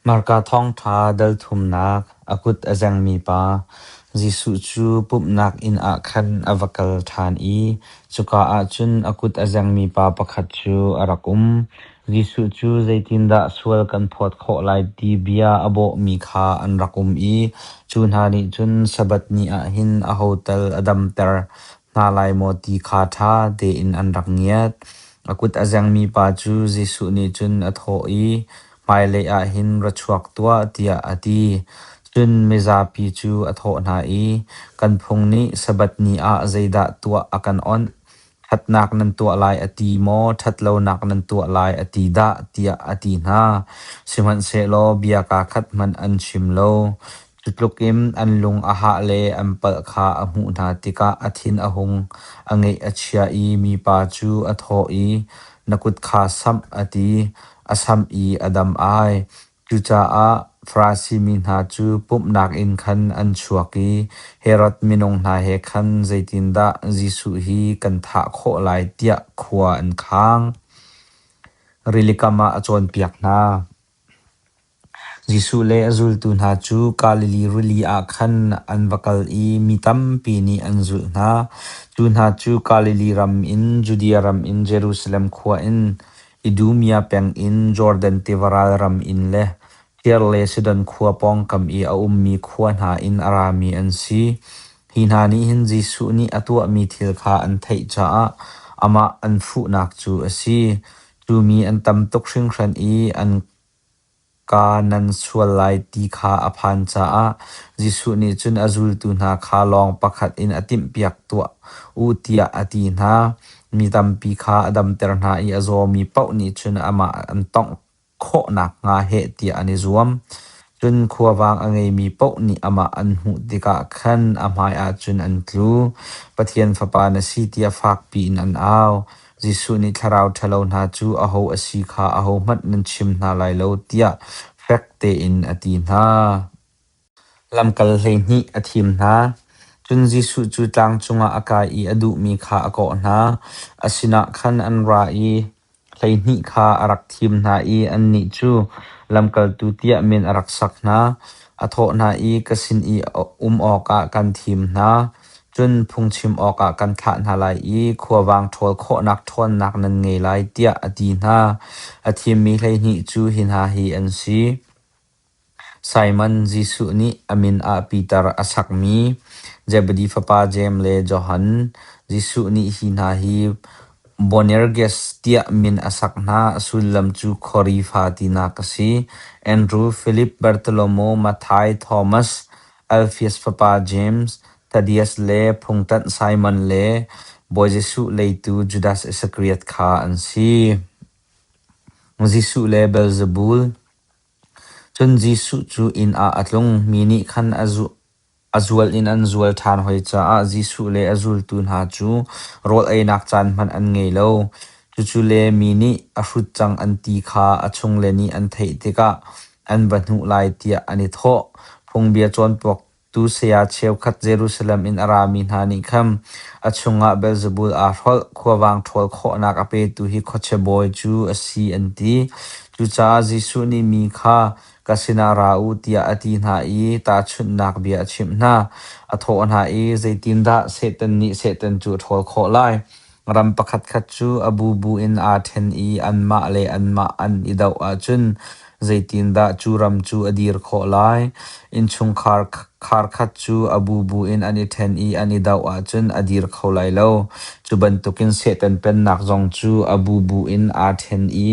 Hmarka thawngṭha delthumnak a kut a zengmi pa Jesuh cu pumhnak inn ah khan a va kal ṭhan i cuka ah cun a kut a zengmi pa pakhat cu a rak um. Jesuh cu zeitindah sual kan phawt khawh lai ti bia a bawhmi kha an rak um i cu hna nih cun Sabbath ni ah hin aho tal a damter. Hna lai maw ti kha ṭha tein an rak ngiat. A kut a zengmi pa cu Jesuh nih cun a thawh i, Hmailei ah hin ra chuak tuah, tiah a ti. Cun mizapi cu a thawh hna i, Kan phung nih Sabbath ni ah zeidah tuah a kan awnh? Ṭhatnak nan tuah lai a ti maw, ṭhatlonak nan tuah lai a ti dah? tiah a ti hna. Sihmanhsehlaw bia kaa khat hmanh an chim lo. Cutluk in an lung a hah le an palh kha a hmuh hna tikah a thin a hung, a ngeih a chia i mipa cu a thawh i, Na kut kha samh, a ti. A samh i a dam ai. Cucaah Farasi mi hna cu pumhnak inn khan an chuak i Herod minung hna he khan zeitindah Jesuh hi kan thah khawh lai tiah khua an khang. Rilikam ah a cawnpiak hna. Jesuh le a zultu hna cu Galilee rili ah khan an va kal i mi tampi nih an zulh hna. Cu hna cu Galilee ram in Judea ram in Jerusalem khua in, Idumea pengin Jordan tiva ral ram in le Tire le Sidon khua pawngkam i a ummi khua hna in a rami an si. Hi hna nih hin Jesuh nih a tuahmi thil kha an theih caah amah an fuhnak cu a si. Cu mi an tam tuk hringhran i an kaa nan sual lai ti kha a phan caah Jesuh nih cun a zultu hna kha lawng pakhat in a timhpiak tuah u tiah a ti hna. Mi tampi kha a damter hna i a zawmi paoh nih cun amah an tawngh khawh nakhnga heh tiah an i zuam. Cun khuavang a ngeimi paoh nih amah an hmuh tikah khan a hmaiah cun an tlu. Pathian Fapa na si tiah fakpi in an au. Jesuh nih thlarau ṭhalo hna cu aho a si kha ahohmanh nan chim hna lai lo tiah fek tein a ti hna. Lamkal hleihnih a thim hna. Cun Jesuh cu tlang cungah a kai i a duhmi kha a kawh hna. A sinah khan an ra i, Hleihnih kha a rak thim hna i annih cu lamkaltu tiah min a rak sak hna. A thawh hna i, “Ka sin i um awkah kan thim hna, cun phungchim awkah kan thlah hna lai i khuavang ṭhawl khawhnak ṭhawnnak nan ngei lai,” tiah a ti hna. A thimmi hleihnih cu hi hna hi an si: Simon Jesuh nih a min ah Piter a sakmi Zebedi fapa Jeim le Johan Jesuh nih hi hna hi Boanerges tiah min a sak hna, sullam cu Khorifa tinak a si. Andrew, Filip, Bartholomaw, Mathai, Thomas, Alfeus fapa James, Thaddeus le phungtanh Simon le Bawi Jesuh leitu Judas Iskariot kha an si. Jesuh le Beelzebul Cun Jesuh cu inn ah a tlung. Mi nih khan a zual in an zual ṭhan hoi caah Jesuh le a zultu hna cu rawl einak caan hmanh an ngei lo. Cucu le mi nih a hrut cang an ti kha a chungle nih an theih tikah an va hnuh lai tiah an i thawh. Phungbia cawnpuak Tu saya cheukhat Jerusalem in a rami hna nih khan a chungah Belzebul aa hrolh, khuavang ṭhawl khawhnak a petu hi khuachia bawi cu a si, an ti. Cucaah Jesuh nih mi kha, Ka sinah ra u, tiah a ti hna i tahchunhnak bia a chimh hna. A thawh hna i, Zeitindah Satan nih Satan cu a ṭhawl khawh lai? Ram pakhatkhat cu a bubu in aa ṭhen i anmah le anmah an i doh ahcun zeitindah cu ram cu a dir khawh lai? Innchungkhar kharkhat cu a bubu in an i ṭhen i an i doh ahcun a dir kho lai lo. Cu bantukin Satan Pennak zong cu a bubu in aa ṭhen i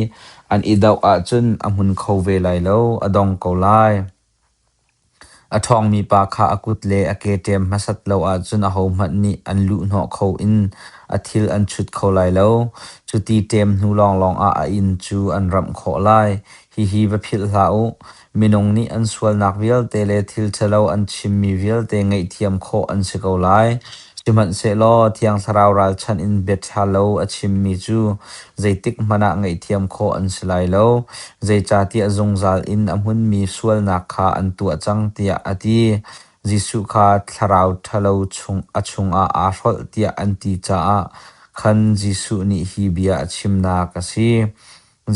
an i doh ahcun a hmun kho ve lai lo, a dong ko lai. A ṭhawngmi pa kha a kut le a ke ṭem hmasat lo ahcun ahohmanh nih an luhhnawh kho in a thil an chut kho lai lo. Cuti ṭem hnu lawnglawng ah a inn cu an ramh khawh lai. Hihi va philh hlah u. Minung nih an sualnak vialte le thil ṭhalo an chimmi vialte ngaihthiam khawh an si ko lai. Sihmanhsehlaw Thiang Thlarau ralchanh in biaṭha lo a chimmi cu zeitik hmanh ah ngaihthiam khawh an si lai lo, zeicahtiah zungzal in a hmunmi sualnak kha an tuah cang tiah a ti. Jesuh kha thlarau ṭhalo chung a chungah aa hrolh tiah an ti caah khan Jesuh nih hi bia a chimnak a si.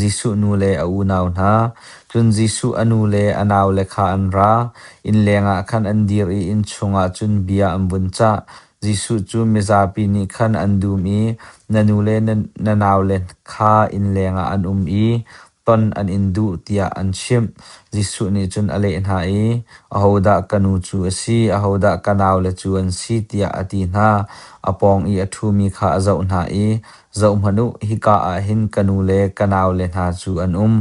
Jesuh nu le a unau hna, cun Jesuh a nu le a naule kha an ra. Inn lengah khan an dir i inn chungah cun bia an vun cah. Jesuh cu mizapi nih khan an dum i na nu le na naule kha inn lengah an um i ton an in duh tiah an chimh. Jesuh nih cun a leh hna i, Ahodah ka nu cu a si? Ahodah ka naule cu an si? tiah a ti hna. A pawng i a ṭhumi kha a zoh hna i, Zohhmanh u, hika ah hin ka nu le ka naule hna cu an um,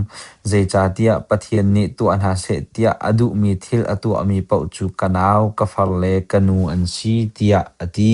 zeicahtiah Pathian nih tuah hna seh tiah a duhmi thil a tuahmi paoh cu ka nau, ka far le ka nu an si, tiah a ti.